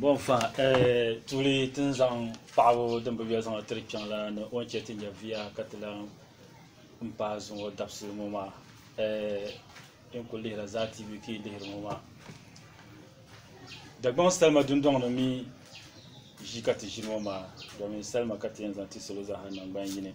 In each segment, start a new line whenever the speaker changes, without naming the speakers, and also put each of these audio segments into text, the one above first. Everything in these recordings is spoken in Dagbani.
Bɔnfa tuuli ti ni zaŋ paɣibu din bi yoli zaŋ tiri kpɛŋ la ni o ni chɛ ti nya bia ka ti lan m-paai zuŋɔ dabisi ŋɔ maa din kul lihira zaa TV ka yi lihiri ŋɔ maa. Dagbaŋ salima dundɔŋ ni mi ʒi ka ti ʒini ŋɔ maa domin salima ka ti yɛn zaŋ ti salo zaa ha naŋgban yini.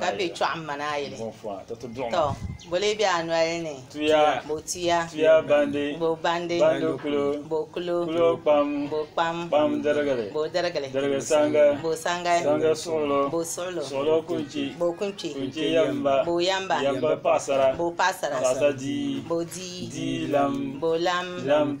ka be chɔɣim ma ni a yili tɔ bo lee be a noli ni bo tuya bo bandi bo kulo bo kpam bo dirigili bo sangi bo suɣilo bo kunchi bo yamba bo paɣasara bo dii bo lam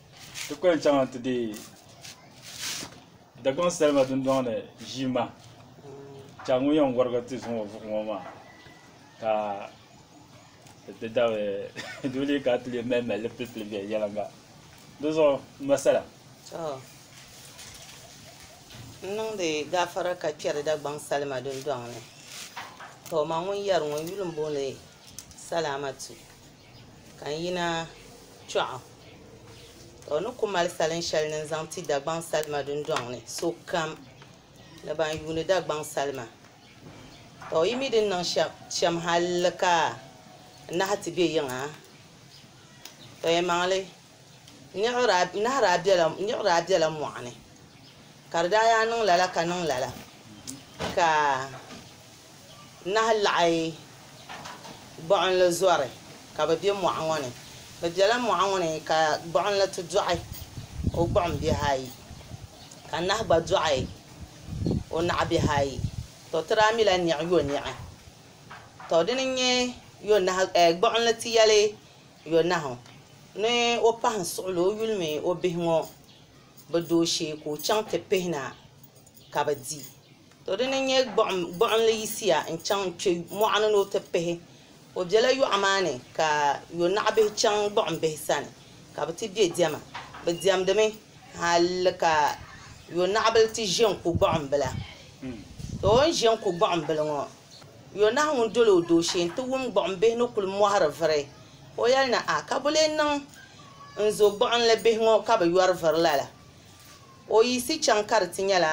Ti kuli yɛn chaŋ ti deei Dagbaŋ salima dundɔŋ ni ʒiima chaŋ ŋun yɛn warigi ti zuŋɔ vuɣu ŋɔ maa ka di dabili doo lee ka ti lee mali mali pili pili viɛnyɛliŋga di zuɣu n ma sala To, n niŋdi gaafara ka kpɛri Dagbaŋ salima dundɔŋ ni. To, ma ŋun yɛri ŋɔ, n yuli m-booni Salaamatu. Ka n yina kpɛɣu, ka o ni ku mali salin shɛli ni n zaŋ ti Dagbaŋ salima dundɔŋ ni sokam ni ban yuuni Dagbaŋ salima. Tɔ! Yi mi din niŋ shɛm hal ka n nahi ti be yiŋa? Tɔ! Yɛlimaŋli, n nahi daa bela mɔɣu ni, ka di daa yaa niŋ lala ka niŋ lala, ka Nahi laɣi gbuɣinli zɔri ka bɛ be mɔɣu ŋɔ ni. Bɛ bela mɔɣu ŋɔ ni ka gbuɣinli ti dɔɣi o gbuɣimbihi ayi, ka nahi gba dɔɣi o naɣibihi ayi. Tɔ! Ti daa mila niɣi yoniɣi. Tɔ! Dini n-nyɛ yonahi, ɛɛ gbuɣinli ti yɛli yonahu ni o pahim suɣili o yuli mini o bihi ŋɔ bɛ dooshee ka o chaŋ ti pihina ka bɛ di. To di ni nyɛ gbuɣinli yiɣisiya n-chaŋ n-kpe mɔɣuni ni o ti pihi. O bela yɔɣu maa ni ka yonaɣibihi chaŋ gbuɣimbihi sani ka bɛ ti be diɛma. Bɛ diɛmdimi hal ka yonaɣibila ti ʒe n-ku gbuɣimbila. Tɔ! O ni ʒe n-ku gbuɣimbila ŋɔ, yonahu ŋun dol o dooshee nti wum gbuɣimbihi ni kul mɔhiri viri. O yɛli ni, A! Ka bɔ lee niŋ n zo gbuɣinli bihi ŋɔ ka bɛ yɔri viri lala? O yiɣisi chaŋ ka di ti nyɛla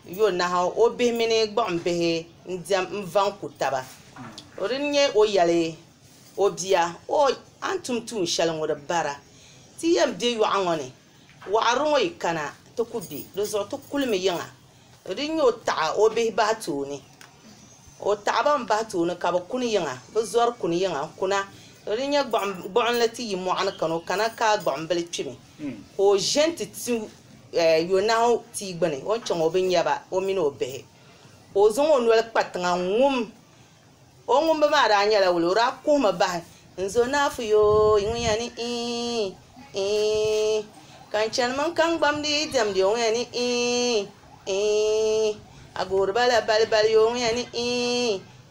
Yonahu o bihi mini gbuɣimbihi n-diɛm n-vaŋ ku taba. O dini n-nyɛ o yɛli o bia, O! A ni tum tuun shɛli ŋɔ di bara. Ti yɛn be yɔɣu ŋɔ ni, wɔɣiri ŋɔ yi kana ti ku be di zuɣu ti kulimi yiŋa. O dini n-nyɛ o taɣi o bihi bahi tooni. O taɣi ba m-bahi tooni ka bɛ kuni yiŋa, bɛ zɔri kuni yiŋa n-kuna. O dini n-nyɛ gbuɣinli ti yi mɔɣu ni kani, o kana ka gbuɣimbili kpimi. Ka o ʒe nti ti yonahu tia gbini, o ni chaŋ o bi nya ba, o mini o bihi. Ka o zaŋ o noli kpa tiŋa n-ŋum. O ŋumbu maa daa nyɛla wula? O daa kuhimi bahi, N Zonaafu yoo, yi ŋun yɛn ni iin, iin, ka n chanimi n kaŋgbam ni yi diɛmdi yoo, ŋun yɛn ni iin, iin, Agooriba la balibali yoo, ŋun yɛn ni iin,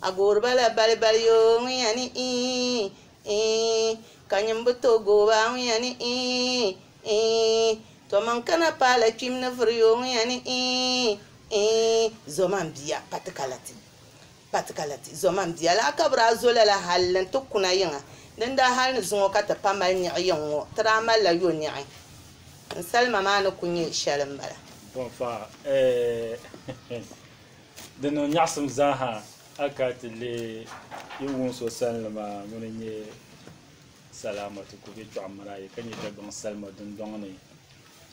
A goori ba la balibali yo, ŋunya ni ii, ii, Ka nyini bi tooi gooi ba, ŋunya ni ii, ii, To maŋ kana paai la kpim ni vuri yo, ŋunya ni ii, ii, Zoma n bia, pati ka la ti, pati ka la ti, Zoma n bia, lahi kabiri a zo lala hal ni n ti kuna yiŋa, Dindaa hal ni zuŋɔ ka ti pa mali niɣi yiŋ ŋɔ, ti daa mali la yo niɣi, N salima maa ni ku nyɛ shɛli m bala. Bɔnfa, Ɛɛh! Di niŋ nyaɣisim zaaha a ka ti leei yi wum so salinli maa ŋuni n-nyɛ Salaamatu ka o be Chɔɣu Marayi ka nyɛ Dagbaŋ salima dundɔŋ ni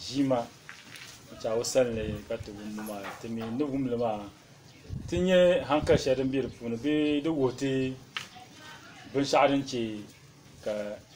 ʒiima n-chaai o salinli ka ti wumbu maa. Ti mi ni wum li maa ti nyɛ hankali shɛli din be di puuni bee di wuhi ti binshɛɣu din chɛ ka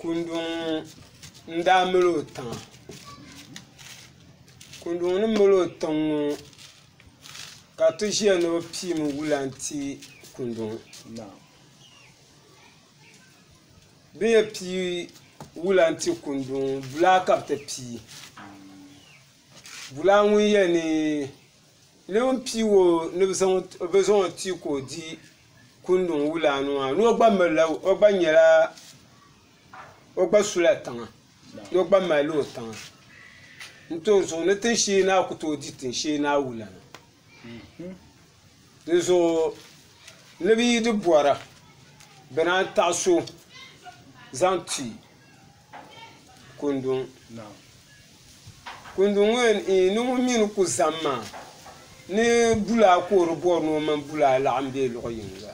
Kundɔŋ n-daa mali o tiŋa kundɔŋ ni mali o tiŋ ŋɔ ka ti ʒiya ni bɛ piimi wula n-ti kundɔŋ maa bɛ ni yɛn pii wula n-ti kundɔŋ ŋɔ bulaa ka bɛ ti pii bulaa ŋun yɛn ni Lɛm n pii o ni bi zaŋ o ti ka o di kunduŋ wulanu maa ni o gba mirila o gba nyɛla o gba sula tiŋa ni o gba mali o tiŋa n ti o zuɣu ni tin shee ni a ku tooi di tin shee ni a wula na dinzuɣu ni bi yi di bora bina n taɣa so zaŋ ti Kunduŋ maa. Kunduŋ ŋɔ yɛn eei ni ŋun mi ni ku zani maa ni bulaa ka o di bɔri ni o mini bulaa laɣim be luɣ yiŋga.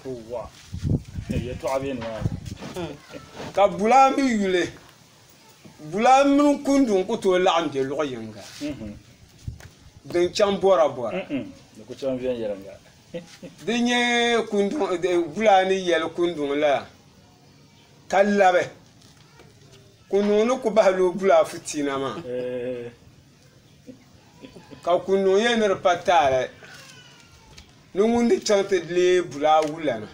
Ka bulaa mi yuli bulaa mini kunduŋ ku tooi laɣim be luɣ yiŋga din chaŋ bɔrabɔra. Di nyɛ bulaa ni yɛli kunduŋ la Ka labi Kunuŋ ni ku bahil o buli afitiina maa, ka Kunuŋ yɛli ni di pa taali ni ŋun di chaŋ ti leei buli awulana.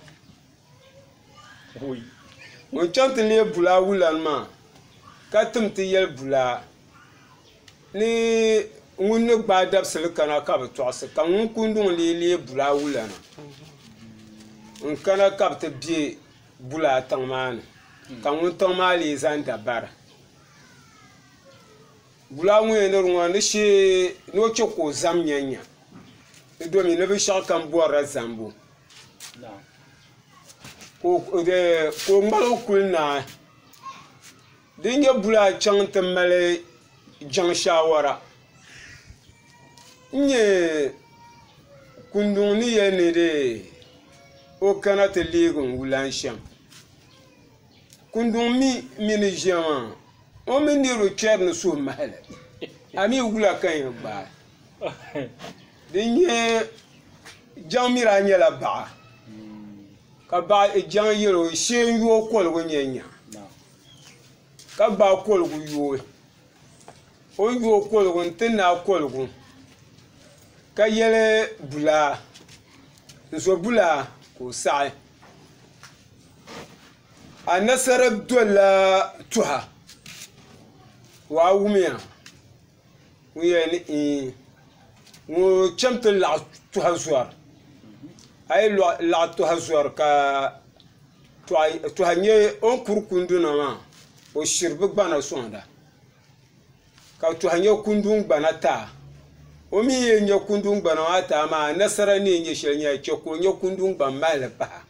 Ŋun chaŋ ti leei buli awulana maa ka tim ti yɛli buli a ni ŋun ni gbaai dabisili kana ka bɛ tɔɣisi ka ŋun Kunuŋ lee leei buli awulana n-kana ka bɛ ti be bulaa tiŋ maa ni ka ŋun tiŋ maa lee zaŋ da bara bulaa ŋun yɛn liri ŋɔ ni o chɛ ka o zam nyɛnya di domi ni binshɛɣu kam bɔrila zambu ka o ŋmalo kuli naai Di ni nyɛ bula chaŋ n-ti mali jaŋ shaawara n-nyɛ kunduŋ ni yɛli ni dee o kana ti leegi n wulan shɛm. Kunduŋ mi mi ni ʒiya maa o mini niriba kpɛri ni suhumahili a mi wula ka yɛn gbaai. Di ni nyɛ jaŋ mi daa nyɛla baɣa ka jaŋ yɛli o shee n-yooi koligu n-yɛn nya. ka gbaai koligu yooi o ni yooi koligu n ti naai koligu ka yɛli bulaa n zo bulaa ka o saɣi anasara dolla tuha o a wumiya Ŋo chɛŋ ti laɣ tuha zɔri a yi laɣ tuha zɔri ka tuha nyɛ o ni kuri kunduna maa o shiri bi gbana soŋda ka tuha nyɛ kundi n gbana taa o mii ni yɛn nyɛ kundi n gbana maa taa maa anasara ni yɛn nyɛ shɛli maa ka o nyɛ kundi n gba mahali paɣa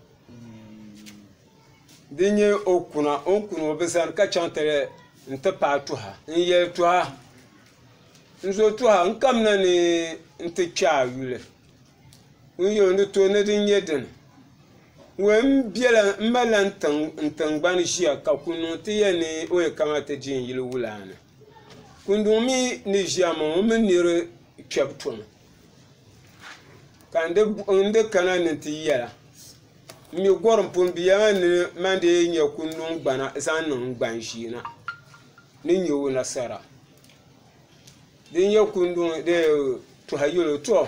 Din nyɛ o kuna o ni kuni o bi zani ka chaŋ ti n ti paai tuha n yɛli tuha n zo tuha n kamina ni n ti kpɛ a yuli n ni yɛli o ni tooi ni din nyɛ dini wee n malila n tingbani ʒiya ka kunluŋ ti yɛn ni o yɛn kana ti di n yuli wula ni kunluŋ mii ni ʒiya maa o mini niraba kpɛbu tɔŋ ka n di kana ni ti yɛla n mi gɔrim pun bia maa ni mani dii nya ku niŋ gbana zaŋ niŋ gban ʒiɛ na ni nya o nasara din yɛn ku niŋ dee tɔha yɛlo tɔ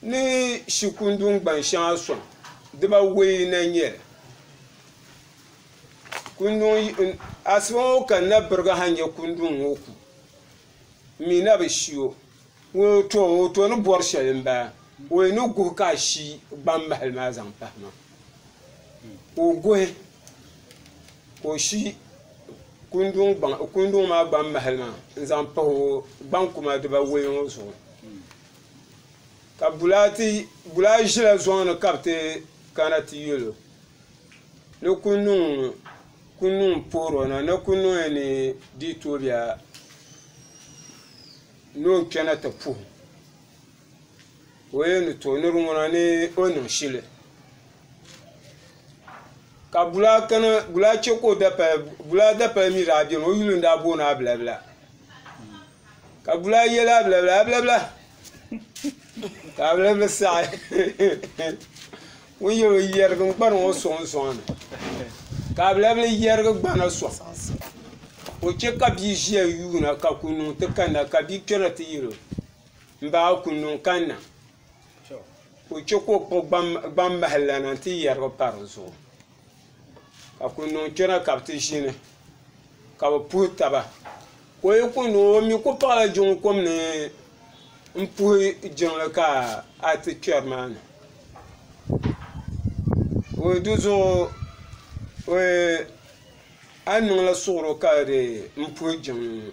ni shi kunduŋ gban shɛŋa sɔŋ dibawei na n-nyɛ li kunduŋ asiba ŋɔ ka n na birigi ha nya kunduŋ ŋɔ ku m mi na bi shi o Ŋuni o to o to ni bori shɛli n bala o yi ni guhi ka a shi gbaŋ mahili maa zaŋ pahi ma ka o guhi ka o shi kunduŋ maa gbaŋ mahili maa n zaŋ pahi o gbaŋ kuma dibawei ŋɔ zuɣu ka bulaa zila zuŋu ni ka bi ti kana ti yɛlo ni kunduŋ poro na ni kunduŋ yɛn ni dii tooyi a Ni o kpɛna ti puhi ka o yɛn ni tooi niri ŋuna ni o niŋ shili ka bulaa chɛ ka o dapali bulaa dapali mii daa biɛni o yuli n daa booni abilabila ka bulaa yɛli abilabila abilabila ka abilabila saɣi Ŋun yɛl o yɛrigi n-kpari ŋɔ sɔŋ sɔŋ ni, ka alabili yɛrigi gbana sɔŋ. O chɛ ka bia ʒiya yuuna ka kunnuŋ ti kanna, ka bia kpɛra ti yɛl o, M ba, kunnuŋ kanna. Ka o chɛ ka o kpuɣi gbammahi lana nti yɛrigi pa di zuɣu. ka kuli niŋ kpɛna ka bi ti ʒini ka bi puhi taba ka o yi kuli niŋ o mii ku paɣala jiŋli kom ni n puhi jiŋli ka a ti kpɛri maa ni dizuɣu a ni niŋla suɣuri ka di n puhi jiŋli ŋo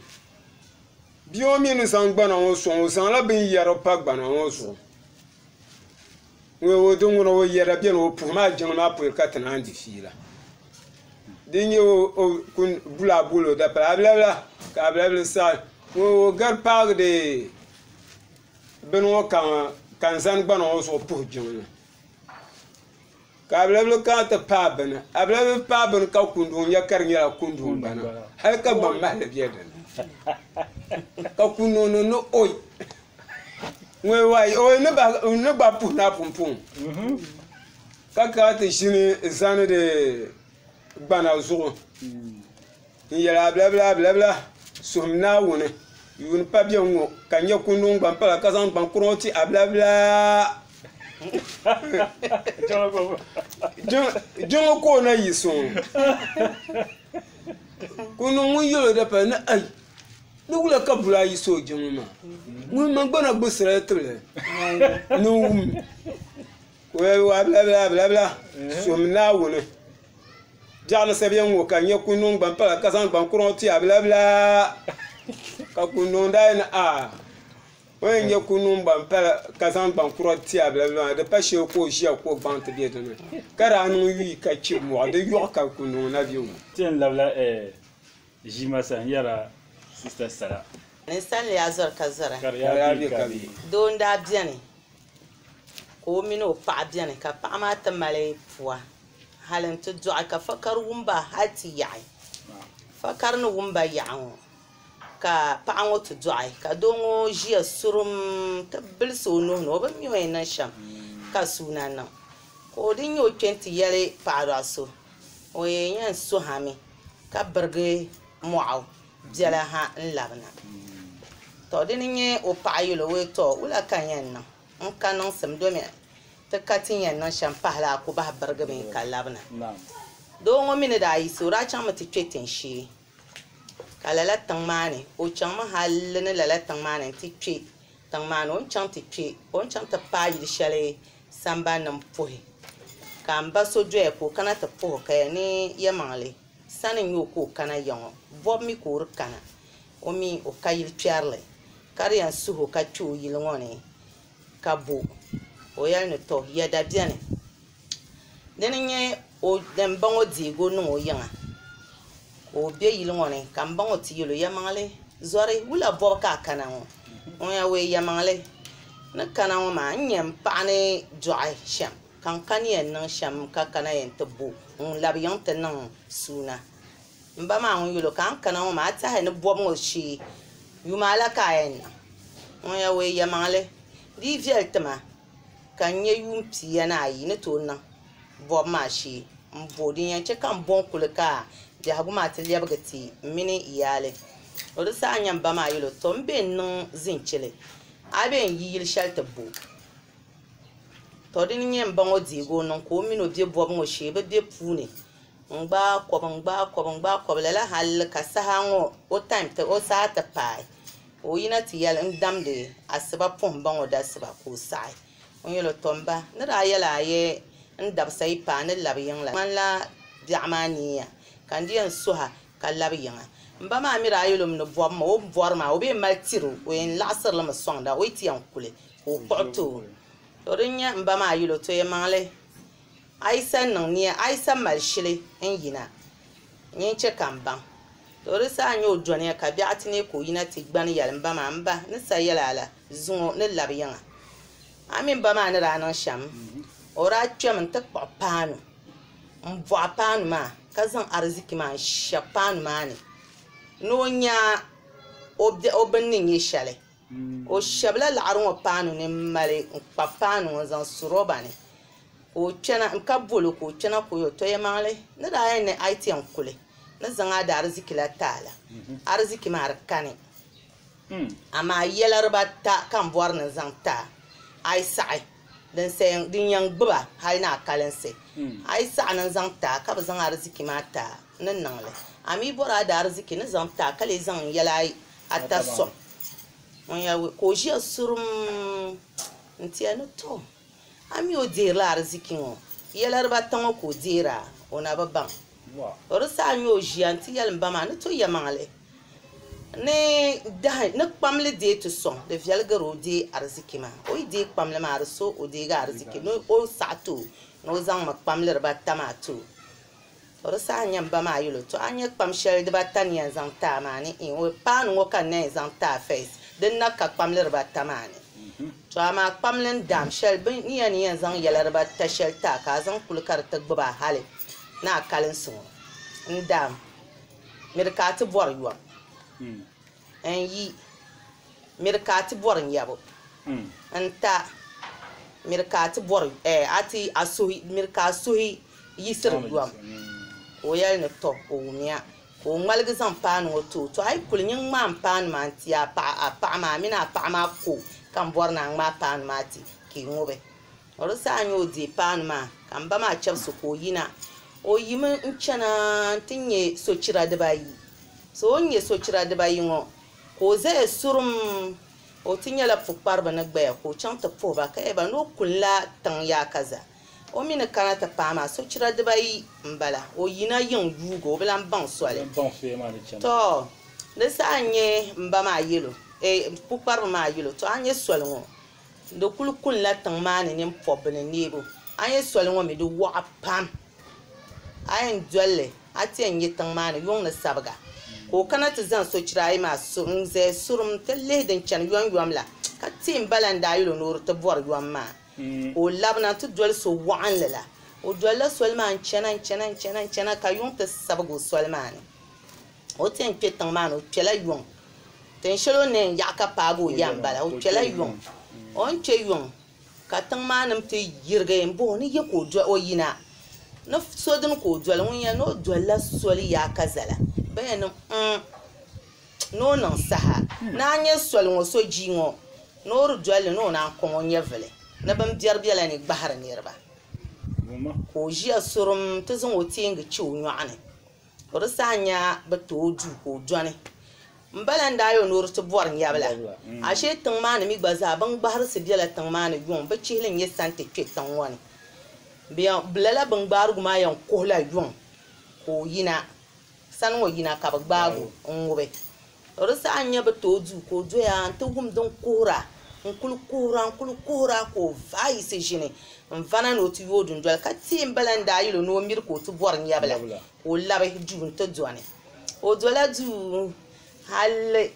bia ŋo mii ni ʒɛ gbana ŋo soŋ o zaŋla bini yɛri pa gbana ŋo zuɣu Ŋun o di ŋuna o yɛda beni o puhi maa jiŋli maa puuni ka ti naan di fiila. Di nya o kul bul a bol o dapala abilabila ka abilabili saɣi ŋun o gari paagi di bini ŋɔ kaŋa ka n zani gbana ŋɔ zuɣu puhi jiŋli ka abilabili kana ti paai bini abilabili bi paai bini ka kunduŋ nya ka di nyɛla kunduŋ gbana hali ka gbaŋ mahili be dini ka kunduŋ ni ni oi. ŋun yɛn wayi o ni ba n ni gba puhi na pumpum ka ka ti ʒini zani di gbana zuɣu n yɛli abilabila abilabila suhum naawuni yuun pa biɛŋ ŋo ka n nyɛ kundi ŋun gba pala ka zaŋ gbaŋ kura ŋo ti abilabila jiŋli ka o na yi soŋ kundi ŋun yɛlo di pala ni ai Di wula ka bula ayi so jiŋli maa ŋun man gbana gbubi sirali tibili ni o wum ka o yɛli waa bila bila bila bila so mi Naawuni biɛɣu ni sabiɛŋ ŋɔ ka n nya ka o niŋ gbampala ka zaŋ gbaŋ kuraŋ ti a bila bila ka kuli niŋdi a yɛli a o ni yɛn nya ka o niŋ gbampala ka zaŋ gbaŋ kura ti a bila bila maa di pa shɛli ka o ʒiya ka o gbaŋ ti be di ni ka daa niŋ yuui ka chibi mɔɣu di yɔɣu ka kuli niŋ na bɛ wum. Ʒi ma sani yɛra sista sara. Ninsalinli yaa zɔri ka zɔra. Ka di yaa be ka be. Doo n daa beni ka o mini o paɣa beni ka paɣa maa ti mali pua hali n ti dɔɣi ka fakari wum ba hali ti yaɣi fakari ni wum ba yaɣi ŋɔ ka paɣa ŋɔ ti dɔɣi ka doo ŋɔ ʒiya surum ti bilisi o nuhi ni o bi mi o yɛn niŋ shɛm ka suu na niŋ ka o dini nyɛ o kpɛ n ti yɛli paɣa dɔɣi so o yɛn yɛn suhami. ka birigi mɔɣu biɛla ha n-labina. Tɔ! Di ni nya o paɣa yɛl o, Tɔ! Wula ka n yɛn niŋ? N ka niŋsim domi ti ka ti ni yɛn niŋ shɛm pahi la, a ku bahi birigi mi ka labina. Doo ŋɔ mi ni daa yiɣisi o daa chaŋmi ti kpe tiŋshee, ka lala tiŋ maa ni o chaŋmi hal ni lala tiŋ maa ni nti kpe Tiŋ maa ni o ni chaŋ ti kpe, o ni chaŋ ti paai yili shɛli sambani ni m-puhi, ka m ba so doya ka o kana ti puhi o, ka ya ni Yɛlimaŋli sani n-nyɛ o ka o kana ya ŋɔ, bɔbu mi ka o di kana, o mi o ka yili kpɛrili, ka di yɛn suhi o ka kpe o yili ŋɔ ni ka bo o yɛli ni, Tɔ! Ya da beni? Dini n-nyɛ o din baŋ o deebu niŋ o yiŋa ka o be yili ŋɔ ni ka m baŋ o ti yɛl o Yɛlimaŋli zɔri wula bɔbu ka a kana ŋɔ? Ŋun yɛn wuhi Yɛlimaŋli ni kana ŋɔ maa, n-nyɛ m paɣa ni dɔɣi shɛm ka n kani yɛn niŋ shɛm ka kana yɛn ti bo ŋun labi yiŋ ti niŋ suuna. M ba maa ŋun yɛl o ka n kana ŋɔ maa, a tahi ni bɔbu ŋɔ shee yuma la ka a yɛn niŋ? Ŋun yɛn wuhi Yɛlimaŋli, Di yi viɛli ti ma Ka n nya yuun pia ni ayi ni tooi niŋ bɔbu maa shee m-bo. Din yɛn chɛ ka m bo n-kuli ka biɛhigu maa ti lɛbigi ti m mini n yaali. O di saha n-nya m ba maa yɛl o, Tɔ! M be n-niŋ zinchili, a be n-yi yil shɛli ti bo. Tɔ! Dini n-nyɛ m ba ŋɔ deeg o niŋ ka o min o be bɔbu ŋɔ shee bɛ be puuni n-gbaai kɔb n-gbaai kɔb n-gbaai kɔb lala hal ka saha ŋɔ o taim, o saha ti paai. Ka o yina ti yɛli, N damdi asiba puhim baŋ o dasiba ka o saɣi. O ni yɛl o, Tɔ m ba, n ni daa yɛl a ayɛ n dabisa yi paai ni lab yiŋ la, di ŋmanila biɛɣu maa niiya ka n di yɛn suh a ka lab yiŋa. M ba maa mi daa yɛl o mi ni bɔbi ma o ni bɔri maa, o bi yɛn mali tir o, o yɛn laɣisiri li mi sɔŋda o yi ti yɛn kuli ka o kpuɣi ti o. Tɔ din nyɛ m ba maa yɛl o, Tɔ yɛmaŋli. Ayisa niŋ nia Ayisa mali shili n yina n yin chɛ ka m baŋ. Tɔ! Di saha n-nyɛ o dɔniya ka biɛɣu ti neei ka o yina ti gbani yɛli, M ba maa, m ba, n ni sa yɛla la, zuŋɔ ni lab yiŋa. A mi m ba maa ni daa niŋ shɛm, o daa kpɛm n-ti kpuɣi paanu m-bɔɣi paanu maa ka zaŋ ariziki maa n-shɛb paanu maa ni ni o nya o biɛɣu bini ni nyɛ shɛli. O shɛbila laɣiri ŋɔ paanu ni m-mali n-kpabi paanu ŋɔ n-zaŋ su roba ni ka o kpɛna ka bol o ka o kpɛna ka o yɛn tɔya maŋli ni daa yɛn ni a yi ti yɛn kuli ni zaŋ a daariziki la ti a la, ariziki maa di kani. Amaa yɛla dibaata ka n bɔri ni n zaŋ ti a, a yi saɣi din yɛn gbib a hal ni a kalinsi, a yi saɣi ni n zaŋ ti a ka bi zaŋ ariziki maa ti a ni niŋ li, a mi bɔri a daariziki ni zaŋ ti a ka lee zaŋ n yɛla Ata sɔŋ ŋun ya ka o ʒiya surum nti ya ni tɔ a mi o deerila ariziki ŋɔ yɛla dibaata ŋɔ ka o deeri a o na bi baŋ o di saha n-nya o ʒiya nti yɛli m ba maa ni tɔ yɛmaŋli ni dahi ni kpamli deei ti sɔŋ di viɛli gari o deei ariziki maa o yi deei kpamli maa di so o deegi ariziki ni o saɣi ti o ni o zaŋ mi kpamli dibaata maa ti o. O di saha n-nya ba maa yuli o, To a ni nya kpam shɛli dibaata ni yɛn zaŋ taai maa ni? Iin, O, Paanu ŋɔ ka n na yɛn zaŋ taai fɛis, din na ka kpamli dibaata maa ni. To amaa kpamli n-daam shɛli bɛ ni ya ni yɛn zaŋ yɛla dibaata shɛli taai ka a zaŋ kuli ka di ti gbib a hali ni a kalinsi ŋɔ n-daam mi di ka a ti bɔri yom. N yi miri ka a ti bɔri n yabu n ta miri ka a ti bɔri ɛɛ a ti a suhi miri ka a suhi yisiri yom ka o yɛli ni tɔ o wumiya ka o ŋmaligi zaŋ paanu ŋɔ ti o tɔ a yi kuli nyin ŋmaai paanu maa n ti a paɣa a paɣa maa a mini a paɣa maa ko ka n bɔri ni a ŋmaai paanu maa ti ka i ŋubi O di saha n-nyɛ o deei paanu maa, ka m ba maa chɛbisi ka o yina. O yimi n-chana nti nya sochira dibaayi. So o ni nya sochira dibaayi ŋɔ, ka o zaya surum, o ti nyɛla pukpariba ni gbaya, ka o chaŋ ti puhi ba ka yɛli ba ni o kuli la tiŋ yaakaza o mi ni kana ti paai maa sochira dibaayi m-bala. O yina yiŋ yuugi, o bi lan baŋ soli. Tɔɔ! Di saha n-nyɛ m ba maa yɛl o, eeh, pukpariba maa yɛl o, tɔɔ a nya soli ŋɔ? Di kuli kunila tiŋ maa ni nini pɔbbu ni neebu. A nya soli ŋɔ mi di wɔɣa pam. A yɛn doli li a ti yɛn nya tiŋ maa ni yuŋ ni sabiga ka o kana ti zaŋ sochira ayi maa n-zaya surum ti lihi din chani yɔnyɔm la ka teei m-bala n-daa yɛl o ni o di ti bɔri yɔm maa ka o labina ti doli so wɔɣinli la. O dolila soli maa n-chana n-chana n-chana ka yuŋ ti sabigi o soli maa ni. O ti yɛn kpɛ tiŋ maa ni o kpɛla yuŋ. Tin shɛli o ni yɛn yaɣi ka paagi o ya m-bala. O kpɛla yuŋ. O ni kpɛ yuŋ ka tiŋ maa nim ti yirigi m-bɔh o ni ya ka o yina ni so dini ka o doli ŋun yɛn ni o dolila soli yaa ka zala bɛ yɛn ni mm ni o niŋ saha ni a nya soli ŋɔ so jii ŋɔ ni o di doli li ni o naan kɔŋ o nyɛvili ni bɛn biɛri bela ni gbahiri niriba ka o ʒiya surum nti zaŋ o teengi che o nyɔɣu ni O di saha n-nya bi ti o duu ka o dɔni. M ba lan daa yɔn ni o di ti bɔri nyɛbila. Ashee tiŋ maa ni mi gba zaa bin gbahirisi bela tiŋ maa ni yuŋ bi chihi li n-nyɛ santi kpe tiŋ ŋɔ ni. Bɛ lala bin gbaarigu maa yɛn kuhila yuŋ ka o yina. Sani ŋɔ yina ka bɛ gbaag o n-ŋubi. O di saha n-nyɛ bɛ tooi du ka o doya nti wum din kuhira. N-kul kuhira, n-kul kuhira ka o vaai yiɣisi ʒini n-vana ni o ti yooi dundoli ka teei m-bala n-daa yil o ni o miri ka o ti bɔri nyɛbila ka o labi duu nti dɔni. O dola duu hal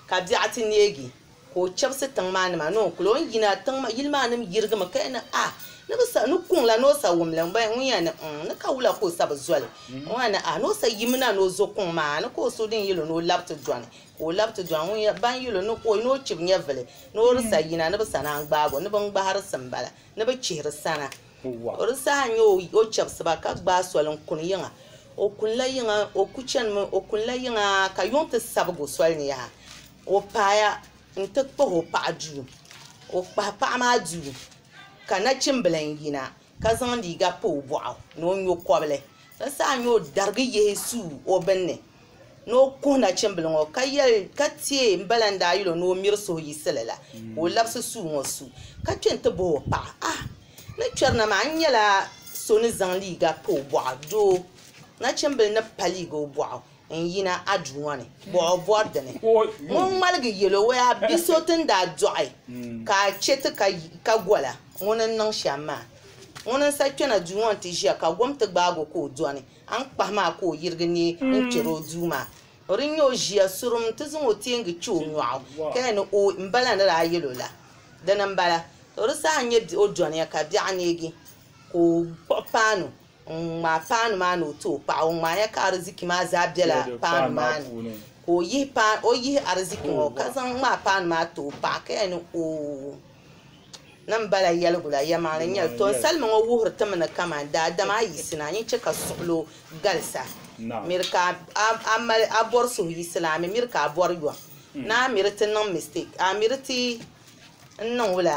ka biɛɣu ti neegi. Ka o chɛbisi tiŋ maa nima ni o kuli o ni yina, tiŋ yili maa nim yirigimi ka ya ni, Ah! Ni bi sa, ni kuŋ la ni o sa wumli m-bɔya, ŋun ya ni, N-ŋ, ni ka wula ka o sa bi zoli? Ŋun ya ni, Ah! Ni o sa yim na ni o zo kuŋ maa, ni ka o suhu din yil o ni o lab ti dɔni, ka o lab ti dɔni, ŋun ya, ban yil o ni ka o ni o chib nyɛvili, ni o di sa yina, ni bi sa naan gbaag o, ni bi ŋ-gbahiri sim bala, ni bi chihiri sana. O di saha nya o, o chɛbisi ba, ka gbaai soli n-kuni yiŋa. O kuni la yiŋa, o ku chanimi, o kuni la yiŋa, ka yuŋ ti sabig o soli ni yaha. ka o paaya n ti kpuɣi o paɣa duu ka o kpahi paɣa maa duu ka nachimbila n yina ka zaŋ liiga pa o boɣu ni o nyokobli di saha n nyɛ o darigi yihi suu o binni ni o kuhi nachimbili ŋo ka tiɛ n bala n daa yuli o ni o miri suhu yiɣisili la ka o labisi suu ŋo su ka kpɛ n ti bob o paɣa ah ni kpɛri na maa n nyɛla so ni zaŋ liiga pa o boɣu doo nachimbili ni pa liiga o boɣu n-yina a duu ŋɔ ni, bɔh o bɔri di ni. Ŋun ŋmaligi yɛl o, Wɛh, bi so ti ni daa dɔɣi ka a chɛ ti ka gola ŋuni n-niŋ shɛm maa? Ŋuni n-sa kpɛna duu ŋɔ nti ʒiya ka gom ti gbaag o ka o dɔni? Aŋkpahi maa ka o yirigi neei n-kpɛr o duu maa. O di nya o ʒiya surum nti zaŋ o teengi kpɛ o nyɔɣu ka yɛn ni, Ooi, m-bala ni daa yɛl o la. Dini m-bala. Tɔ di saha n-nyɛ o dɔniya ka biɛɣu neegi ka o kpuɣi paanu Ŋun ŋmaai paanu maa ni o ti o paɣa, o ŋmaaya ka ariziki maa zaa bela paanu maa ni, ka o yihi paanu, o yihi ariziki ŋɔ ka zaŋ ŋmaai paanu maa ti o paɣa ka yɛli ni o niŋ ba la yɛligu la, yɛlimaŋli n-nyɛli. Tɔ! Salima ŋɔ wuhiri ti mi ni kaman daadama a yiɣisi ni a nyin chɛ ka suɣilo galisi a, miri ka a mali, a bɔri suhu yiɣisi la a mi miri ka a bɔri yɔm. Ni a miri ti niŋ mistake, a miri ti n-niŋ wula?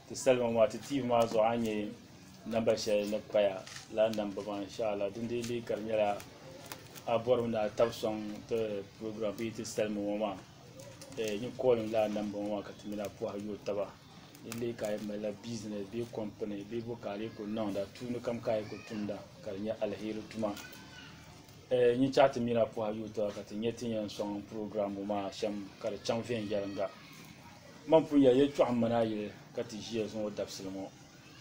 Ti salima maa ti tiivi maa zuɣu a nyɛ namba shɛli ni paya la namba maa inshallah din dee leei ka di nyɛla a bɔrimi ni a tabi sɔŋ ti program bee ti salima ŋɔ maa eh, nyin kɔɔlim la a namba ŋɔ maa ka ti mini a pɔha yo taba din leei ka a yɛn malila business bee kɔmpini bee bo ka a lee ku niŋda tuuni kam ka a yi ku tumda ka di nyɛ alheri tuma eh, nyin chaɣ ti mini a pɔha yo taba ka ti nyɛ ti yɛn sɔŋ program ŋɔ maa shɛm ka di chaŋ viɛnyɛliŋga Mani pun ya yɛtɔɣ m-mani a yili ka ti ʒiya zuŋ o dabisili ŋɔ.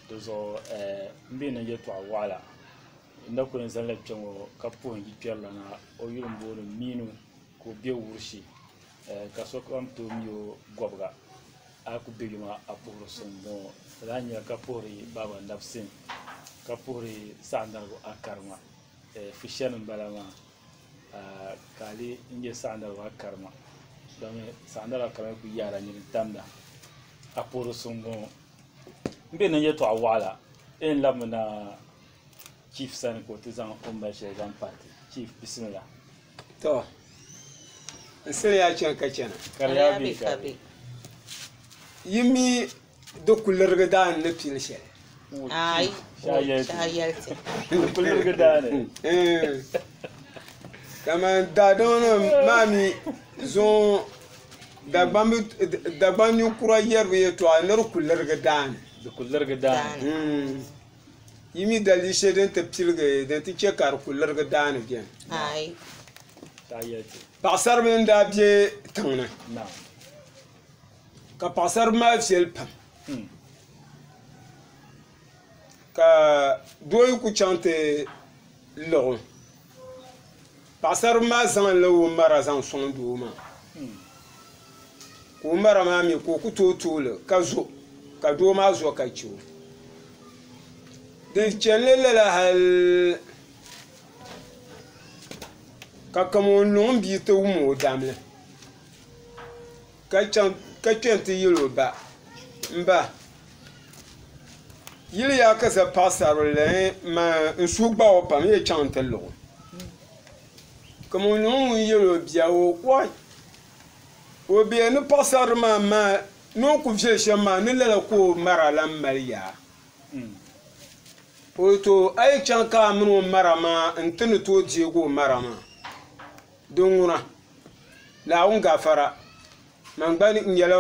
Di zuɣu m bi niŋ yɛtɔɣ wɔɣila. N na kul yɛn zani la kpɛŋɔ ka puhi n yikpɛrilana. O yuli m-booni Miinu ka o be Wurshi, ka sokam tooi mi o Gɔbiga. A yi kul be yom a, a puhiri so m-bɔŋɔ. Lala a ni nya ka puhiri Baaba Nabisim ka puhiri Saɣindarigu Akari ŋɔ, Fushani m-bala maa. ka a lihi n-nyɛ saɣindara maa karima domi saɣindara maa karima kuli yahila nini n-tamda a puhiri so m-bɔŋɔ m be niŋ yɛltɔɣ waɣila di yɛn labimi na chief sani ka o ti zaŋ o ni mali shɛli zaŋ paati chief bisimila To, n siliya chaŋ ka chana. Kariya be ka be. Yi mi Di kulirigi daa n ni pili shɛli. Ayi, shaayɛliti. Di kulirigi daa ni. Kamani eh. daadama nim maa mi zuŋ Dagbaŋ ninkura yɛribu yɛtɔɣa ni di kulirigi daa ni. Di kulirigi daa ni. Hmm. Yi mi dalii shɛli din ti piligi din ti chɛ ka di kulirigi daa ni bɛni. Ayi. Shaayɛliti. Paɣasaribili n daa bɛ tiŋ ni. Naam. Ka paɣasara maa viɛli pam ka doo yi ku chaŋ ti liɣ o paɣasara maa zaŋla o mara zaŋ sɔŋ doo maa ka o mara maa mi ka o ku tooi tooli ka zo ka doo maa zo ka chɛ o di chanila lala hali ka kaman o ni luŋ m-bia ti wum o damli ka chaŋ ka kpɛ n ti yɛli o ba n ba yiliya ka za paɣasarili n suhu gbaɣi o pam n yɛn chaŋ n ti liɣi o ka ŋun nyɛ ŋun yɛli o bia ŋɔ wɔi o bia ni paɣasarili maa maa ni o ku viɛli shɛm maa ni lala ka o mara lan mali ya o to a yi chaŋ ka a mini o mara maa n ti ni tooi deegi o mara maa Di ŋuna, Naawuni gafara, man gba n nyɛla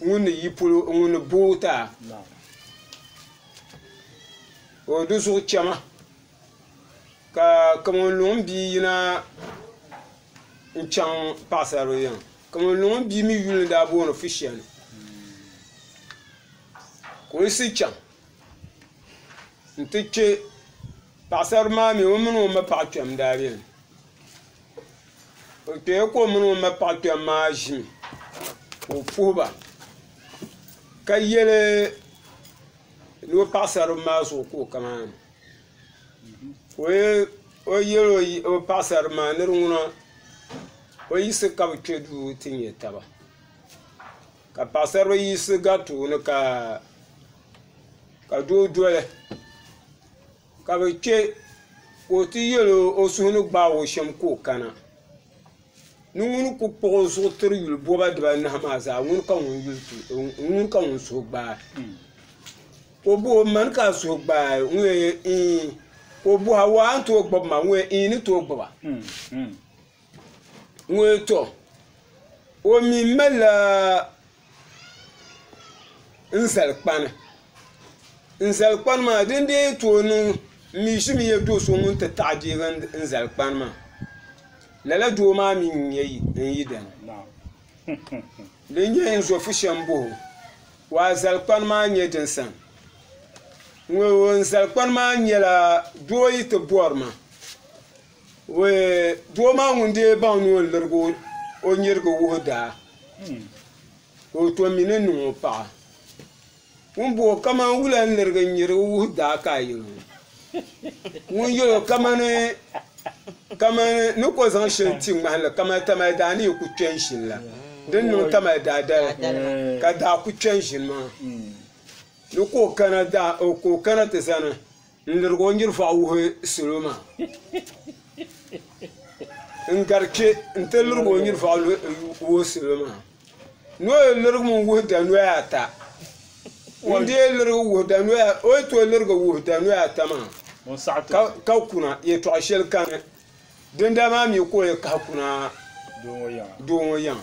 ŋun ni yi polo ŋun ni booi ti a o di zuɣu chɛma, ka kaman luŋ n bia yina n chaŋ paɣisaribili yiŋa, kaman luŋ n bia mi yuli ni daa booni Fishɛni ka o yiɣisi chaŋ n ti kpe Paɣasara maa mi o mini o ma paɣa kpɛm daa beni. O kpɛya ka o mini o ma paɣa kpɛm maa ʒimi ka o puhi ba ka yeli ni o paɣasara maa zuɣu ka o kana ni. Ka o yeli o paɣasara maa ni di ŋuna o yiɣisi ka bɛ kpe duu ti nya taba. Ka paɣasara yiɣisi gariti o ni ka doo doli. ka bi chɛ ka o ti yɛl o suhu ni gbaag o shɛm ka o kana ni ŋuni ku kpuɣ o zuɣu tiri yuli bɔba dibanahi maa zaa ŋuni ka ŋun suhu gbaai ka o booi man ka a suhu gbaai n ŋɔ ɛɛn ka o booi a waa n tooi gbubi ma n ŋɔ ɛɛn ni tooi gbuba ŋɔ tɔ o mi malila n zali kpani n zali kpani maa din dee tooi niŋ n mi ʒimi yɛ do so ŋun ti taɣi deegi n zali kpani maa lala doo maa mi n-nyɛ n yidana din nyɛ n zo fushɛ m-bɔhi o o azali kpani maa nyɛ din sani ŋɔ n zali kpani maa nyɛla doo yi ti bɔri ma Doo maa ŋun dee baŋ ni o lirigi o nyirigi wuhi daa ka o tom mi ni niŋ o paɣa ŋun bo kamani wula n lirigi n nyirigi wuhi daa ka a yɛli o ŋun yɛli o kamani ni ko zaŋ shɛli ti ŋmahi li kamani Tamale daa ni yi ku kpɛ n ʒini la di ni niŋ Tamale daa dali ka daa ku kpɛ n ʒini maa ni ka o kana ti zani N lirigi o nyirifɔɣu wuhi salo maa. N gari kpe nti lirigi o nyirifɔɣu wuhi salo maa. Ni o yi lirigimi wuhi danoya ata, n deei lirigi wuhi danoya, o yi tooi lirigi wuhi danoya ata maa, ka kuna, yɛtɔɣ shɛli kani. Dindaa maa mi ka o yi kahi kuna doo ŋɔ yiŋa.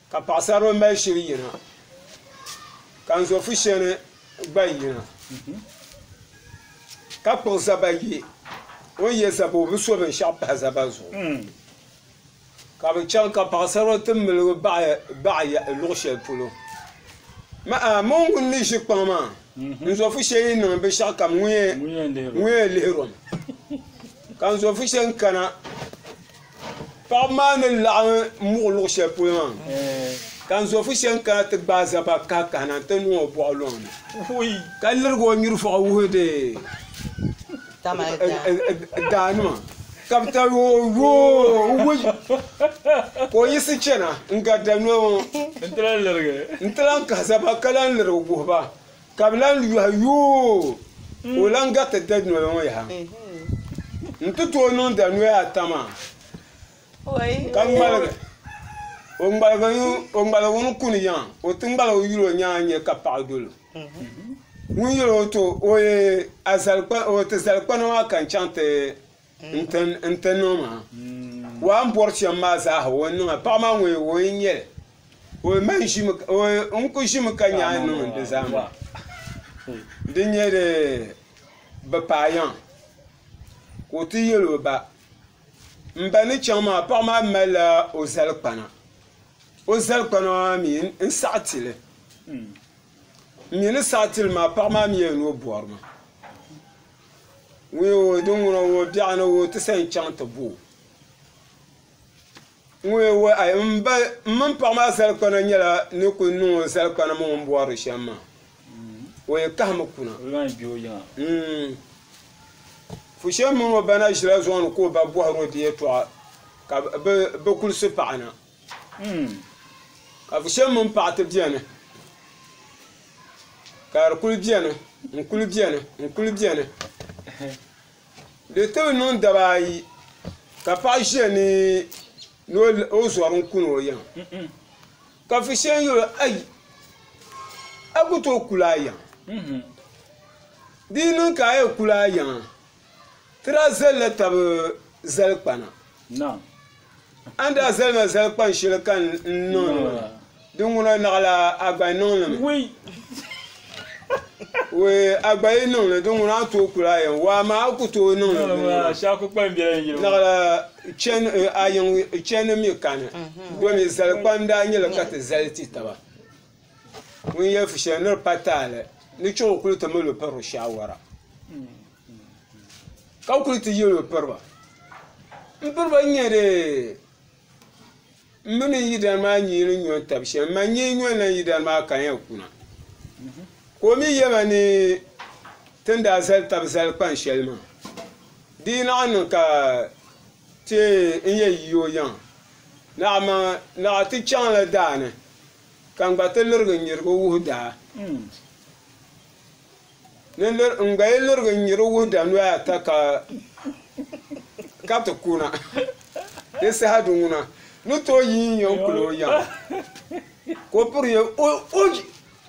Ka paɣasarili mali shili yina, ka n zo fusheni gba yina, ka kpuɣi zaba ye o ni ye zaba o bi so binshaɣu pahi zaba zuɣu. Ka bɛ chaŋ ka paɣasarili ti miligi baɣi luɣi sheli polo. Ma a, mɔŋ ŋun ni ʒi kpaŋ maa, n zo fusheni yi niŋ binshaɣu kam ŋun yɛn lihiri o ni. Ka n zo fusheni kana. Paɣaba maa ni laɣim muɣi luɣ shɛli polo maa ka n zɔfu shɛn kana ti gbaai zaba kahikahina nti niŋ o bɔɣu lɔŋ ni, ka lirigi o nyurifɔɣu wuhindi daanima ka bɛ tari o yoo ka o yiɣisi chana n-garita noli ŋɔ nti lan kahi zaba ka lan lirigi wuhi ba. Ka bɛ lan yɔhi, Yoo! Ka o lan gariti dadunoya ŋɔ yaha nti tooi niŋ dadunoya ata maa, ka ŋmaligi o ŋmaligu ni kuni yiŋa, o ti ŋmaligi yuli o nyaŋ n-nya ka paɣa dol o, ŋun yɛl o to o ye a zali kpana, o ti zali kpana maa ka n chaŋ ti N-ti niŋ maa? Waa m-bɔri shɛm maa zaaha o ni niŋ a. Paɣa maa ŋun o yi nyɛ li? N ku ʒimi ka nya a ni niŋ di zaa maa. Di nyɛ di bi paai yaŋ ka o ti yɛl o ba. M ba ni chaŋ maa paɣa maa malila o zalikpana. O zalikpana maa mi n-saɣi ti li. M mi ni saɣi ti li maa paɣa maa mi yɛn ni o bɔri ma. Ŋuye o din ŋuna o biɛɣu ni o ti sa n chaŋ ti bo o. Ŋuye o ai m mini paɣa maa zali kpana nyɛla ni kuli niŋ o zali kpana mini o ni bɔri shɛm maa o yi kahimi kuna fushɛm mini o ba na ʒila zuɣu ni ka o ba bɔhiri o di yɛltɔɣa ka bɛ kuli su paɣa na. Ka vushɛm mini paɣa ti bɛni ka di kuli bɛni n kuli bɛni n kuli bɛni di ti bi niŋ daba ayi ka paɣa ʒiya ni o zɔri n kuni o yiŋ ka vushɛm yuli o ayi a ku tooi kuli a yiŋ di yi niŋ ka a yɛn kuli a yiŋa Ti daa zalila tab zalikpana. A ni daa zali ma zalikpan shɛli ka n niŋ li ŋɔ, di ŋuna naɣila a gba yi niŋ li mi. Wee, a gba yi niŋ li, di ŋuna a tooi kul a yɛn waa maa, a ku tooi niŋ li mi maa. Naɣila chani, a yiŋ chani mi kani. Domi zalikpani daa nyɛla ka ti zali ti taba. ŋun yɛli fu shɛli ni di pa taali ni chɛ o kuli ti mali o piriba shaawara ka kuli ti yɛli o piriba n piriba n nyɛ dee n mi mini yidana maa nyee ni nyo n-tabi shɛm m-ma n-nyɛ nyo n-lan yidana maa ka n yɛn kuna ka o mi yɛli ma ni ti ni daa zali tab zali kpan shɛli maa di yi laɣim niŋ ka ti yɛn yi o yiŋa naɣ' ti chaŋ la daa ni Ka n gba ti lirigi n-nyiri o wuhida. N gba yi lirigi n-nyiri o wuhida noya ata ka ka ti ku na. Di saha di ŋuna ni tooi yi n-yɛn kuli o yaŋ ka o piri ya o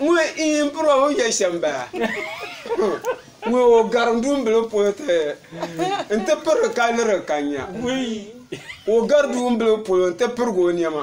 ŋun yi piri o o ya shɛm bala. Ŋun o gari duumbili polo ti nti pirigi ka lirigi ka nya. O gari duumbili polo nti pirigi o nɛma.